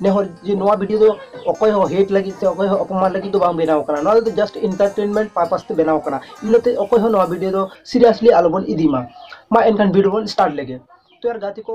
ᱱᱮ ᱦᱚᱲ ᱡᱮ ᱱᱚᱣᱟ ᱵᱷᱤᱰᱭᱳ ᱫᱚ ᱚᱠᱚᱭ ᱦᱚᱸ ᱦᱮᱴ ᱞᱟᱹᱜᱤᱫ ᱥᱮ ᱚᱠᱚᱭ ᱦᱚᱸ ᱚᱯᱚᱢᱟᱱ ᱞᱟᱹᱜᱤᱫ ᱫᱚ ᱵᱟᱝ ᱵᱮᱱᱟᱣ ᱟᱠᱟᱱᱟ ᱱᱚᱣᱟ ᱫᱚ ᱡᱟᱥᱴ ᱤᱱᱴᱟᱨᱴᱮᱱᱢᱮᱱᱴ ᱯᱟᱨᱯᱟᱥ ᱛᱮ ᱵᱮᱱᱟᱣ ᱟᱠᱟᱱᱟ ᱤᱱᱟᱹᱛᱮ ᱚᱠᱚᱭ ᱦᱚᱸ ᱱᱚᱣᱟ ᱵᱷᱤᱰᱭᱳ ᱫᱚ ᱥᱤᱨᱤᱭᱟᱥᱞᱤ ᱟᱞᱚ ᱵᱚᱱ ᱤᱫᱤ ᱢᱟ ᱢᱟ ᱮᱱᱠᱷᱟᱱ ᱵᱷᱤᱰᱭᱳ ᱵᱚᱱ ᱥᱴᱟᱨᱴ ᱞᱮᱜᱮ ᱛᱚ ᱭᱟᱨ ᱜᱟᱛᱮ ᱠᱚ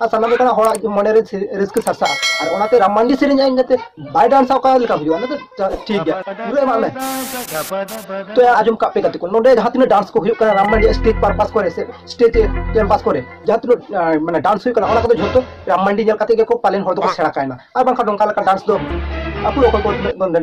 ᱟᱨ ᱥᱟᱱᱟᱢ ᱞᱮᱠᱟᱱᱟᱜ ᱦᱚᱲᱟᱜ ᱢᱚᱱᱮ ᱨᱮ ᱨᱟᱹᱥᱠᱟᱹ ᱥᱟᱨᱥᱟᱜᱼᱟ ᱟᱨ ᱚᱱᱟᱛᱮ ᱨᱟᱢ ᱢᱟᱱᱰᱤ ᱥᱮᱨᱮᱧ ᱟᱡ ᱠᱟᱛᱮ ᱵᱟᱭ ᱰᱟᱱᱥᱟ ᱚᱠᱟ ᱞᱮᱠᱟ ᱦᱩᱭᱩᱜᱼᱟ ᱚᱱᱟ ᱫᱚ ᱴᱷᱤᱠ ᱜᱮᱭᱟ ᱯᱩᱨᱟᱹ ᱮᱢᱟᱜ ᱢᱮ ᱛᱚ ᱟᱸᱡᱚᱢ ᱠᱟᱜ ᱯᱮ ᱜᱟᱛᱮ ᱠᱚ ᱱᱚᱰᱮ ᱡᱟᱦᱟᱸ ᱛᱤᱱᱟᱹᱜ ᱰᱟᱱᱥ ᱠᱚ ᱦᱩᱭᱩᱜ ᱠᱟᱱᱟ ᱨᱟᱢ ᱢᱟᱱᱰᱤ ᱥᱴᱮᱡ ᱯᱟᱨᱯᱟᱥ ᱠᱚᱨᱮ ᱥᱮ ᱥᱴᱮᱡ ᱠᱮᱢᱯᱟᱥ ᱠᱚᱨᱮ ᱡᱟᱦᱟᱸ ᱛᱤᱱᱟᱹᱜ ᱢᱟᱱᱮ ᱰᱟᱱᱥ ᱦᱩᱭᱩᱜ ᱠᱟᱱᱟ ᱚᱱᱟ ᱠᱚᱫᱚ ᱡᱷᱚᱛᱚ ᱨᱟᱢ ᱢᱟᱱᱰᱤ ᱧᱮᱞ ᱠᱟᱛᱮ ᱜᱮᱠᱚ ᱯᱟᱞᱮᱱ ᱦᱚᱲ ᱫᱚᱠᱚ ᱥᱮᱬᱟ ᱠᱟᱭᱱᱟ ᱟᱨ ᱵᱟᱝᱠᱷᱟᱱ ᱱᱚᱝᱠᱟ ᱞᱮᱠᱟ ᱰᱟᱱᱥ ᱫᱚ ᱟᱠᱚ ᱚᱠᱚᱭ ᱠᱚ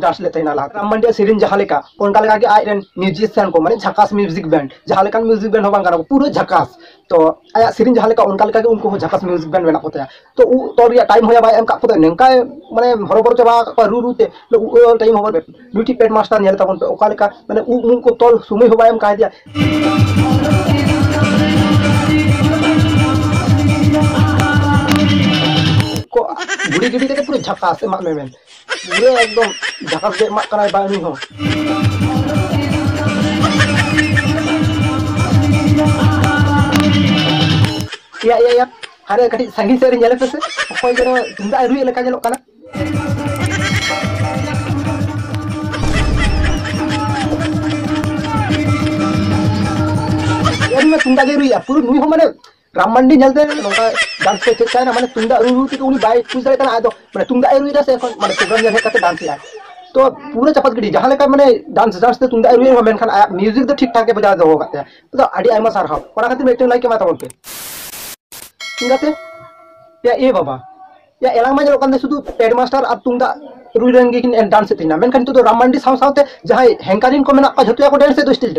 ᱰᱟᱱᱥ ᱞᱮᱫ ᱛᱟᱦᱮᱱᱟ ᱞᱟᱦᱟ ᱨᱟᱢ ᱢᱟᱱᱰᱤ ᱥᱮᱨᱮᱧ ᱡᱟᱦᱟᱸ ᱞᱮᱠᱟ ᱚᱱᱠᱟ ᱞᱮᱠᱟ ᱜᱮ ᱟᱡ ᱨᱮᱱ ᱢᱤᱭᱩᱡᱤᱥᱤᱭᱟᱱ ᱠᱚ ᱢᱟᱱᱮ ᱡᱷᱟᱠᱟᱥ ᱢᱤᱭᱩᱡᱤᱠ ᱵᱮᱱᱰ ᱡᱟᱦᱟᱸ ᱞᱮᱠᱟᱱ ᱢᱤᱭᱩᱡᱤᱠ ᱵᱮᱱᱰ ᱦᱚᱸ ᱵᱟᱝ ᱠᱟᱱᱟ ᱯᱩᱨᱟᱹ ᱡᱷᱟᱠᱟᱥ ᱛᱚ ᱟᱭᱟᱜ ᱥᱮᱨᱮᱧ ᱡᱟᱦᱟᱸ ᱞᱮᱠᱟ ᱚᱱᱠᱟ ᱞᱮᱠᱟᱜᱮ ᱩᱱᱠᱩ ᱦᱚᱸ ᱡᱷᱟᱠᱟᱥ ᱢᱤᱭᱩᱡᱤᱠ ᱵᱮᱱᱰ ᱢᱮᱱᱟᱜ ᱠᱚᱛᱟᱭᱟ ᱛᱚ ᱩᱵ ᱛᱚᱞ ᱨᱮᱭᱟᱜ ᱴᱟᱭᱤᱢ ᱦᱚᱸᱭᱟ ᱵᱟᱭ ᱮᱢ ᱠᱟᱜ ᱠᱚᱫᱚ ᱱᱚᱝᱠᱟᱭ ᱢᱟᱱᱮ ᱦᱚᱨᱚᱵᱚᱨᱚ ᱪᱟᱵᱟ ᱠᱟᱜ ᱠᱚᱣᱟ ᱨᱩ ᱨᱩ ᱛᱮ ᱩᱵ ᱛᱚᱞ ᱴᱟᱭᱤᱢ ᱦᱚᱸ ᱵᱟᱭ ᱱᱩᱭ ᱴᱷᱤᱡ ᱯᱮᱰ ᱢᱟᱥᱴᱟᱨ ᱧᱮᱞ ᱛᱟᱵᱚᱱ ᱯᱮ ᱚᱠᱟ ᱞᱮᱠᱟ ᱢᱟᱱᱮ ᱩᱵ ᱢᱩᱵ ᱠᱚ ᱛᱚᱞ ᱥᱚᱢᱚᱭ ᱦᱚᱸ ᱵᱟᱭ ᱮᱢ ᱠᱟᱭ ᱫᱮᱭᱟ ᱠᱚ ᱜᱷᱩᱲᱤ ᱜᱤᱰᱤ ᱠᱟᱛᱮ ᱯᱩᱨᱟᱹ ᱡᱷᱟᱠᱟᱥ ᱮᱢᱟᱜ ᱢᱮ ᱢᱮᱱ ᱯᱩᱨᱟᱹ ᱮᱠᱫᱚᱢ ᱡᱟᱠᱟᱛ ᱜᱮ ᱮᱢᱟᱜ ᱠᱟᱱᱟᱭ ᱵᱟᱝ ᱩᱱᱤ ᱦᱚᱸ ᱭᱟ ᱭᱟ ᱭᱟ ᱦᱟᱱᱮ ᱠᱟᱹᱴᱤᱡ ᱥᱟᱺᱜᱤᱧ ᱥᱮᱫ ᱨᱮ ᱧᱮᱞ ᱯᱮᱥᱮ ᱚᱠᱚᱭ ᱡᱮᱱᱚ ᱛᱩᱢᱫᱟᱜ ᱨᱩᱭᱮᱫ ᱞᱮᱠᱟ ᱧᱮᱞᱚᱜ ᱠᱟᱱᱟ ᱛᱩᱢᱫᱟᱜ ᱜᱮ ᱨᱩᱭᱟ ᱯᱩᱨᱟᱹ ᱱᱩᱭ ᱦᱚᱸ ᱢᱟᱱᱮ ᱨᱟᱢ ᱢᱟᱱᱰᱤ ᱧᱮᱞᱛᱮ ᱱᱚᱝᱠᱟ ᱰᱟᱱᱥ ᱠᱚ ᱪᱮᱫ ᱛᱟᱦᱮᱱᱟ ᱢᱟᱱᱮ ᱛᱩᱢᱫᱟᱜ ᱨᱩ ᱨᱩ ᱛᱮᱜᱮ ᱩᱱᱤ ᱵᱟᱭ ᱠᱩᱥ ᱫᱟᱲᱮᱭᱟᱜ ᱠᱟᱱᱟ ᱟᱫᱚ ᱢᱟᱱᱮ ᱛᱩᱢᱫᱟᱜ ᱮ ᱨᱩᱭᱮᱫᱟ ᱥᱮ ᱮᱠᱷᱚᱱ ᱢᱟᱱᱮ ᱯᱨᱳᱜᱨᱟᱢ ᱧᱮᱞ ᱦᱮᱡ ᱠᱟᱛᱮ ᱰᱟᱱᱥ ᱮᱫᱟᱭ ᱛᱚ ᱯᱩᱨᱟᱹ ᱪᱟᱯᱟᱫ ᱜᱤᱰᱤ ᱡᱟᱦᱟᱸ ᱞᱮᱠᱟ ᱢᱟᱱᱮ ᱰᱟᱱᱥ ᱰᱟᱱᱥ ᱛᱮ ᱛᱩᱢᱫᱟᱜ ᱮ ᱨᱩᱭᱮᱫ ᱨᱮᱦᱚᱸ ᱢᱮᱱᱠᱷᱟᱱ ᱟᱭᱟᱜ ᱢᱤᱭᱩᱡᱤᱠ ᱫᱚ ᱴᱷᱤᱠ ᱴᱷᱟᱠ ᱜᱮ ᱵᱚᱡᱟᱣ ᱫᱚᱦᱚ ᱟᱠᱟᱫ ᱛᱟᱭᱟ ᱛᱚ ᱟᱹᱰᱤ ᱟᱭᱢᱟ ᱥᱟᱨᱦᱟᱣ ᱚᱱᱟ ᱠᱷᱟᱹᱛᱤᱨ ᱢᱤᱫᱴᱮᱱ ᱞᱟᱭᱤᱠ ᱮᱢᱟ ᱛᱟᱵᱚᱱ ᱯᱮ ᱪᱤᱠᱟᱹᱛᱮ ᱮ ᱵᱟᱵᱟ ᱭᱟ ᱮᱞᱟᱝ ᱢᱟ ᱧᱮᱞᱚᱜ ᱠᱟᱱ ᱛᱟᱦᱮᱸ ᱥᱩᱫᱷᱩ ᱯᱮᱰ ᱢᱟᱥᱴᱟᱨ ᱟᱨ ᱛᱩᱢᱫᱟᱜ ᱨᱩᱭ ᱨᱮᱱ ᱜᱮᱠᱤᱱ ᱰᱟᱱᱥ ᱮᱫ ᱛᱟᱦᱮᱱᱟ ᱢᱮᱱᱠᱷᱟᱱ ᱱᱤᱛᱚᱜ ᱫᱚ ᱨᱟᱢ ᱢᱟᱱᱰᱤ ᱥᱟᱶ ᱥᱟᱶᱛᱮ ᱡᱟᱦᱟᱸᱭ ᱦᱮᱝᱠᱟᱨᱤᱱ ᱠᱚ ᱢᱮᱱᱟᱜ ᱠᱚᱣᱟ ᱡᱷᱚᱛᱚ ᱜᱮᱠᱚ ᱰᱮᱱᱥ ᱮᱫ ᱫᱚ ᱥᱴᱤᱞ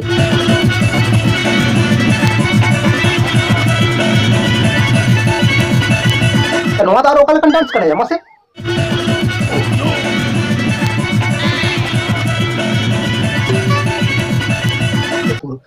ᱱᱚᱣᱟ ᱫᱚ ᱟᱨ ᱚᱠᱟ ᱞᱮᱠᱟᱱ ᱰᱟᱱᱥ ᱠᱟᱱᱟ ᱢᱟᱥᱮ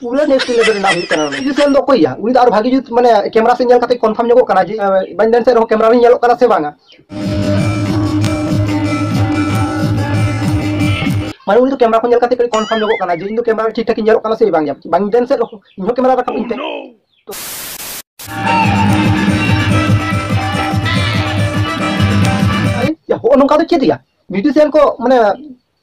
ᱯᱩᱨᱟᱹ ᱱᱮᱠᱥᱴ ᱞᱮᱵᱮᱞ ᱨᱮᱱᱟᱜ ᱦᱩᱭᱩᱜ ᱠᱟᱱᱟ ᱩᱱᱤ ᱥᱮᱞ ᱫᱚ ᱚᱠᱚᱭ ᱜᱮᱭᱟ ᱩᱱᱤ ᱫᱚ ᱟᱨ ᱵᱷᱟᱜᱤ ᱡᱩᱛ ᱢᱟᱱᱮ ᱠᱮᱢᱮᱨᱟ ᱥᱮᱫ ᱧᱮᱞ ᱠᱟᱛᱮ ᱠᱚᱱᱯᱷᱟᱨᱢ ᱧᱚᱜᱚᱜ ᱠᱟᱱᱟ ᱡᱮ ᱵᱟᱹᱧ ᱰᱮᱱᱥ ᱨᱮᱦᱚᱸ ᱠᱮᱢᱮᱨᱟ ᱨᱮ ᱧᱮᱞᱚᱜ ᱠᱟᱱᱟ ᱥᱮ ᱵᱟᱝᱟ ᱢᱟᱱᱮ ᱩᱱᱤ ᱫᱚ ᱠᱮᱢᱮᱨᱟ ᱠᱚ ᱧᱮᱞ ᱠᱟᱛᱮ ᱠᱟᱹᱴᱤᱡ ᱠᱚᱱᱯᱷᱟᱨᱢ ᱧᱚᱜᱚᱜ ᱠᱟᱱᱟ ᱡᱮ ᱤᱧ ᱫᱚ ᱠᱮᱢᱮᱨᱟ ᱴᱷᱤᱠ ᱴᱷᱟᱠ ᱧᱮᱞᱚᱜ ᱠᱟᱱᱟ ᱥᱮ ᱵᱟᱝ ᱜᱮᱭᱟ ᱵᱟᱹᱧ ᱰᱮᱱᱥ ᱮᱫ ᱨᱮᱦᱚᱸ ᱤᱧ ᱦᱚᱸ ᱠᱮᱢᱮᱨᱟ ᱨᱟᱠᱟᱵ ᱤᱧ ᱛᱮ ᱦᱚᱸᱜᱼᱚ ᱱᱚᱝᱠᱟ ᱫᱚ ᱪᱮᱫ ᱜᱮᱭᱟ ᱢᱤᱣᱡᱤᱥᱤᱭᱟᱱ ᱠᱚ ᱢᱟᱱᱮ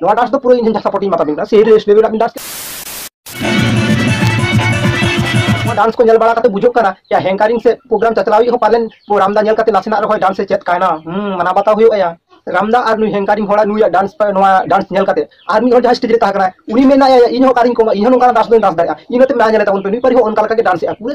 ᱱᱚᱣᱟ ᱰᱟᱥ ᱫᱚ ᱯᱩᱨᱟᱹ ᱤᱧ ᱡᱟᱦᱟᱸ ᱥᱟᱯᱳᱨᱴ ᱤᱧ ᱢᱟᱛᱟᱵᱤᱱ ᱠᱟᱱᱟ ᱥᱮᱭ ᱨᱮᱥ ᱞᱮᱵᱮᱞ ᱟᱵᱤᱱ ᱰᱟᱥ ᱱᱚᱣᱟ ᱰᱟᱱᱥ ᱠᱚ ᱧᱮᱞ ᱵᱟᱲᱟ ᱠᱟᱛᱮ ᱵᱩᱡᱷᱟᱹᱜ ᱠᱟᱱᱟ ᱡᱮ ᱦᱮᱝᱠᱟᱨᱤᱝ ᱥᱮ ᱯᱨᱳᱜᱨᱟᱢ ᱪᱟᱪᱞᱟᱣ ᱦᱚᱸ ᱯᱟᱞᱮᱱ ᱨᱟᱢᱫᱟ ᱧᱮᱞ ᱠᱟᱛᱮ ᱱᱟᱥᱮᱱᱟᱜ ᱨᱮᱦᱚᱸ ᱰᱟᱱᱥ ᱮ ᱪᱮᱫ ᱠᱟᱭᱱᱟ ᱦᱩᱸ ᱢᱟᱱᱟ ᱵᱟᱛᱟᱣ ᱦᱩᱭᱩᱜ ᱟᱭᱟ ᱨᱟᱢᱫᱟ ᱟᱨ ᱱᱩᱭ ᱦᱮᱝᱠᱟᱨᱤᱝ ᱦᱚᱲᱟᱜ ᱱᱩᱭᱟᱜ ᱰᱟᱱᱥ ᱱᱚᱣᱟ ᱰᱟᱱᱥ ᱧᱮᱞ ᱠᱟᱛᱮ ᱟᱨ ᱢᱤᱫ ᱦᱚᱲ ᱡᱟᱦᱟᱸ ᱥᱴᱮᱡᱽ ᱨᱮ ᱛᱟᱦᱮᱸ ᱠᱟᱱᱟ ᱩᱱᱤ ᱢᱮᱱᱟᱭᱟ ᱤᱧ ᱦᱚᱸ ᱠᱟᱨᱤᱧ ᱠᱚᱢᱟ ᱤᱧ ᱦᱚᱸ ᱱᱚᱝᱠᱟᱱᱟᱜ ᱰᱟᱱᱥ ᱫᱚᱧ ᱰᱟᱱᱥ ᱫᱟᱲᱮᱭᱟᱜᱼᱟ ᱤᱱᱟᱹᱛᱮ ᱢᱮᱱᱟ ᱧᱮᱞ ᱛᱟᱵᱚᱱ ᱯᱮ ᱱᱩᱭ ᱯᱟᱹᱨᱤ ᱦᱚᱸ ᱚᱱᱠᱟ ᱞᱮᱠᱟᱜᱮ ᱰᱟᱱᱥ ᱮᱫᱼᱟ ᱯᱩᱨᱟᱹ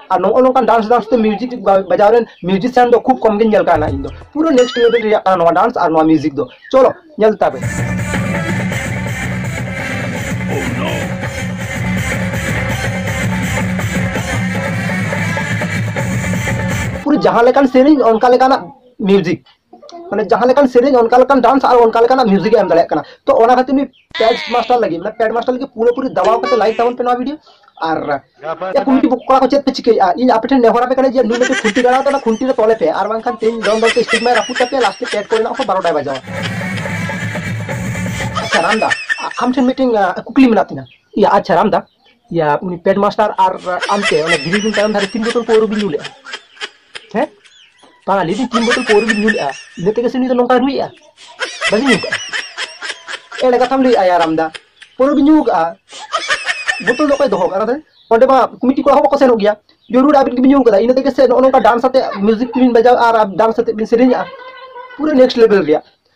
ᱟᱨ ᱱᱚᱜᱼᱚ ᱱᱚᱝᱠᱟᱱ ᱰᱟᱱᱥ ᱰᱟᱱᱥ ᱛᱮ ᱢᱤᱭᱩᱡᱤᱠ ᱵᱟᱡᱟᱣ ᱨᱮᱱ ᱢᱤᱭᱩᱡᱤᱥᱤᱭᱟᱱ ᱫᱚ ᱠᱷᱩᱵ ᱠᱚᱢ ᱜᱮ ᱧᱮᱞ ᱠᱟᱱᱟ ᱤᱧ ᱫᱚ ᱯᱩᱨᱟᱹ ᱱᱮᱠᱥᱴ ᱞᱮᱵᱮᱞ ᱨᱮᱭᱟᱜ ᱠᱟᱱᱟ ᱱᱚᱣᱟ ᱰᱟᱱᱥ ᱟᱨ ᱱᱚᱣᱟ ᱢᱤᱭᱩᱡᱤᱠ ᱫᱚ ᱪᱚᱞᱚ ᱧᱮᱞ ᱛᱟᱵᱮᱱ ᱯᱩᱨᱟᱹ ᱡᱟᱦᱟᱸ ᱞᱮᱠᱟᱱ ᱥᱮᱨᱮᱧ ᱚᱱᱠᱟ ᱞᱮᱠᱟᱱᱟᱜ ᱢᱤᱭᱩᱡᱤᱠ ᱢᱟᱱᱮ ᱡᱟᱦᱟᱸ ᱞᱮᱠᱟᱱ ᱥᱮᱨᱮᱧ ᱚᱱᱠᱟ ᱞᱮᱠᱟᱱ ᱰᱟᱱᱥ ᱟᱨ ᱚᱱᱠᱟ ᱞᱮᱠᱟᱱᱟᱜ ᱢᱤᱭᱩᱡᱤᱠ ᱮᱢ ᱫᱟᱲᱮᱭᱟᱜ ᱠᱟᱱᱟ ᱛᱚ ᱚᱱᱟ ᱠᱷᱟᱹᱛᱤᱨ ᱱᱩᱭ ᱯᱮᱰ ᱢᱟᱥᱴᱟᱨ ᱞᱟᱹᱜᱤᱫ ᱢᱟᱱᱮ ᱯᱮᱰ ᱢᱟᱥᱴᱟᱨ ᱞᱟᱹᱜᱤᱫ ᱯᱩᱨᱟᱹ ᱯᱩᱨᱤ ᱫᱟᱵᱟᱣ ᱠᱟᱛᱮ ᱞᱟᱭᱤᱠ ᱛᱟᱵᱚᱱ ᱯᱮ ᱱᱚᱣᱟ ᱵᱷᱤᱰᱤᱭᱳ ᱟᱨ ᱮ ᱠᱚᱢᱤᱴᱤ ᱠᱚᱲᱟ ᱠᱚ ᱪᱮᱫ ᱯᱮ ᱪᱤᱠᱟᱹᱭᱮᱫᱼᱟ ᱤᱧ ᱟᱯᱮ ᱴᱷᱮᱱ ᱱᱮᱦᱚᱨ ᱟᱯᱮ ᱠᱟᱱᱟ ᱡᱮ ᱱᱩᱭ ᱢᱤᱫᱴᱮᱱ ᱠᱷᱩᱱᱴᱤ ᱜᱟᱲᱟᱣ ᱛᱟᱦᱮᱱᱟ ᱠᱷᱩᱱᱴᱤ ᱨᱮ ᱛᱚᱞᱮ ᱯᱮ ᱟᱨ ᱵᱟᱝᱠᱷᱟᱱ ᱛᱮᱦᱮᱧ ᱫᱚᱱ ᱫᱚᱱ ᱛᱮ ᱥᱴᱤᱠ ᱢᱟᱭ ᱨᱟᱹᱯᱩᱫ ᱛᱟᱯᱮ ᱞᱟᱥᱴᱮ ᱯᱮᱰ ᱠᱚᱨᱮᱱᱟᱜ ᱦᱚᱸ ᱵᱟᱨᱚᱴᱟᱭ ᱵᱟᱡᱟᱣᱟ ᱟᱪᱪᱷᱟ ᱨᱟᱢᱫᱟ ᱟᱢ ᱴᱷᱮᱱ ᱢᱤᱫᱴᱮᱱ ᱠᱩᱠᱞᱤ ᱢᱮᱱᱟᱜ ᱛᱤᱧᱟ ᱤᱭᱟ ᱟᱪᱪᱷᱟ ᱨᱟᱢᱫᱟ ᱤᱭᱟ ᱩᱱᱤ ᱯᱮᱰ ᱢᱟᱥᱴᱟᱨ ᱟᱨ ᱟᱢᱛᱮ ᱚᱱᱟ ᱜᱤᱨᱤ ᱵᱤᱱ ᱛᱟᱭᱚᱢ ᱫᱷᱟᱨᱮ ᱛᱤᱱ ᱵᱳᱛᱚᱞ ᱯᱟᱹᱣᱨᱟᱹ ᱵᱤᱱ ᱧᱩ ᱞᱮᱜᱼᱟ ᱦᱮᱸ ᱵᱟᱝᱟ ᱞᱟᱹᱭ ᱫᱤᱧ ᱛᱤᱱ ᱵᱳᱛᱚᱞ ᱯᱟᱹᱣᱨᱟᱹ ᱵᱤᱱ ᱧᱩ ᱞᱮᱜᱼᱟ ᱤᱱᱟᱹ ᱛᱮᱜᱮ ᱥᱮ ᱩᱱᱤ ᱫᱚ ᱱᱚᱝᱠᱟᱭ ᱨᱩᱭᱮᱜᱼᱟ ᱵᱟᱹᱧ ᱧᱩ ᱠᱟᱜᱼᱟ ᱮᱲᱮ ᱠᱟᱛᱷᱟᱢ ᱞᱟᱹᱭᱮᱜᱼᱟ ᱭᱟᱨ ᱟᱢᱫᱟ ᱯᱟᱹᱣᱨᱟᱹ ᱵᱤᱱ ᱧᱩ ᱠᱟᱜᱼᱟ ᱵᱳᱛᱚᱞ ᱫᱚ ᱚᱠᱚᱭ ᱫᱚᱦᱚ ᱠᱟᱜᱼᱟ ᱚᱸᱰᱮ ᱢᱟ ᱠᱚᱢᱤᱴᱤ ᱠᱚᱲᱟ ᱦᱚᱸ ᱵᱟᱠᱚ ᱥᱮᱱᱚᱜ ᱜᱮᱭᱟ ᱡᱚᱨᱩᱨ ᱟᱹᱵᱤᱱ ᱜᱮᱵᱤᱱ ᱧᱩ ᱠᱟᱫᱟ ᱤᱱᱟᱹ ᱛᱮᱜᱮ ᱥᱮ ᱱᱚᱜᱼᱚ ᱱᱚᱝᱠᱟ ᱰᱟᱱᱥ ᱟᱛᱮ ᱢᱤᱣᱡᱤᱠ ᱵᱤᱱ ᱵᱟᱡᱟᱣ ᱟᱨ ᱰᱟᱱᱥ ᱟᱛᱮ ᱵᱤᱱ ᱥᱮᱨᱮᱧᱮᱜᱼᱟ ᱯᱩᱨᱟᱹ ᱱᱮᱠᱥᱴ ᱞᱮᱵᱮᱞ ᱨᱮᱭᱟᱜ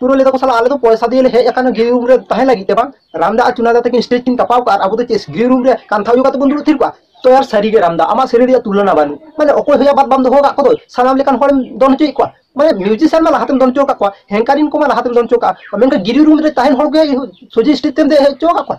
ᱯᱩᱨᱟᱹ ᱞᱮᱫᱟ ᱠᱚ ᱥᱟᱞᱟ ᱟᱞᱮ ᱫᱚ ᱯᱚᱭᱥᱟ ᱫᱤᱭᱮ ᱦᱮᱡ ᱟᱠᱟᱱᱟ ᱜᱨᱤ ᱨᱩᱢ ᱨᱮ ᱛᱟᱦᱮᱸ ᱞᱟᱹᱜᱤᱫ ᱛᱮ ᱵᱟᱝ ᱨᱟᱢᱫᱟ ᱟᱨ ᱪᱩᱱᱟᱫᱟ ᱛᱟᱹᱠᱤᱱ ᱥᱴᱮᱡ ᱠᱤᱱ ᱠᱟᱯᱟᱣ ᱠᱟᱜᱼᱟ ᱟᱵᱚ ᱫᱚ ᱪᱮᱫ ᱜᱨᱤ ᱨᱩᱢ ᱨᱮ ᱠᱟᱱᱛᱷᱟ ᱚᱡᱚᱜ ᱠᱟᱛᱮ ᱵᱚᱱ ᱫᱩᱲᱩᱵ ᱛᱷᱤᱨ ᱠᱚᱜᱼᱟ ᱛᱚ ᱭᱟᱨ ᱥᱟᱹᱨᱤ ᱜᱮ ᱨᱟᱢᱫᱟ ᱟᱢᱟᱜ ᱥᱮᱨᱮᱧ ᱨᱮᱭᱟᱜ ᱛᱩᱞᱚᱱᱟ ᱵᱟᱹᱱᱩᱜ ᱢᱟᱱᱮ ᱚᱠᱚᱭ ᱦᱚᱸ ᱵᱟᱫ ᱵᱟᱢ ᱫᱚᱦᱚ ᱠᱟᱜ ᱠᱚᱫᱚ ᱥᱟᱱᱟᱢ ᱞᱮᱠᱟᱱ ᱦᱚᱲᱮᱢ ᱫᱚᱱ ᱦᱚᱪᱚᱭᱮᱫ ᱠᱚᱣᱟ ᱢᱟᱱᱮ ᱢᱤᱣᱡᱤᱥᱤᱭᱟᱱ ᱢᱟ ᱞᱟᱦᱟᱛᱮᱢ ᱫᱚᱱ ᱦᱚᱪᱚ ᱠᱟᱜ ᱠᱚᱣᱟ ᱦᱮᱝᱠᱟᱨᱤᱱ ᱠᱚᱢᱟ ᱞᱟᱦᱟᱛᱮᱢ ᱫᱚᱱ ᱦᱚᱪᱚ ᱠᱟᱜᱼᱟ ᱢᱮᱱᱠᱷᱟᱱ ᱜᱨᱤ ᱨᱩᱢ ᱨᱮ ᱛᱟᱦᱮᱱ ᱦᱚᱲ ᱜᱮ ᱥᱚᱡᱷᱮ ᱥᱴᱮᱡ ᱛᱮᱢ ᱫᱮᱡ ᱦᱚᱪᱚ ᱠᱟᱜ ᱠᱚᱣᱟ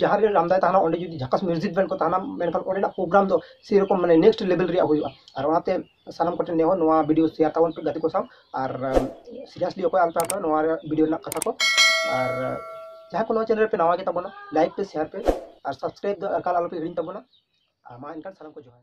ᱡᱟᱦᱟᱸ ᱨᱮ ᱨᱟᱢᱫᱟᱭ ᱛᱟᱦᱮᱱᱟ ᱚᱸᱰᱮ ᱡᱩᱫᱤ ᱡᱷᱟᱠᱟᱥ ᱢᱤᱣᱡᱤᱠ ᱵᱮᱱᱰ ᱠᱚ ᱛᱟᱦᱮᱱᱟ ᱢᱮᱱᱠᱷᱟᱱ ᱚᱸᱰᱮᱱᱟᱜ ᱯᱨᱳᱜᱨᱟᱢ ᱫᱚ ᱥᱮᱨᱚᱠᱚᱢ ᱢᱟᱱᱮ ᱱᱮᱠᱥᱴ ᱞᱮᱵᱮᱞ ᱨᱮᱭᱟᱜ ᱦᱩᱭᱩᱜᱼᱟ ᱟᱨ ᱚᱱᱟᱛᱮ ᱥᱟᱱᱟᱢ ᱠᱚᱴᱷᱮᱱ ᱱᱮᱦᱚᱨ ᱱᱚᱣᱟ ᱵᱷᱤᱰᱤᱭᱳ ᱥᱮᱭᱟᱨ ᱛᱟᱵᱚᱱ ᱯᱮ ᱜᱟᱛᱮ ᱠᱚ ᱥᱟᱶ ᱟᱨ ᱥᱤᱨᱤᱭᱟᱥᱞᱤ ᱚᱠᱚᱭ ᱟᱞᱚᱯᱮ ᱦᱟᱛᱟᱣᱟ ᱱᱚᱣᱟ ᱵᱷᱤᱰᱤᱭᱳ ᱨᱮᱱᱟᱜ ᱠᱟᱛᱷᱟ ᱠᱚ ᱟᱨ ᱡᱟᱦᱟᱸ ᱠᱚ ᱱᱚᱣᱟ ᱪᱮᱱᱮᱞ ᱨᱮᱯᱮ ᱱᱟᱣᱟ ᱜᱮ ᱛᱟᱵᱚᱱᱟ ᱞᱟᱭᱤᱠ ᱯᱮ ᱥᱮᱭᱟᱨ ᱯᱮ ᱟᱨ ᱥᱟᱵᱥᱠᱨᱟᱭᱤᱵ ᱫᱚ ᱮᱠᱟᱞ ᱟᱞᱚᱯᱮ ᱦᱤᱲᱤᱧ ᱛᱟᱵᱚᱱᱟ ᱟᱨ ᱢᱟ ᱮᱱᱠᱷᱟᱱ ᱥᱟᱱᱟᱢ ᱠᱚ ᱡᱚᱦᱟᱨ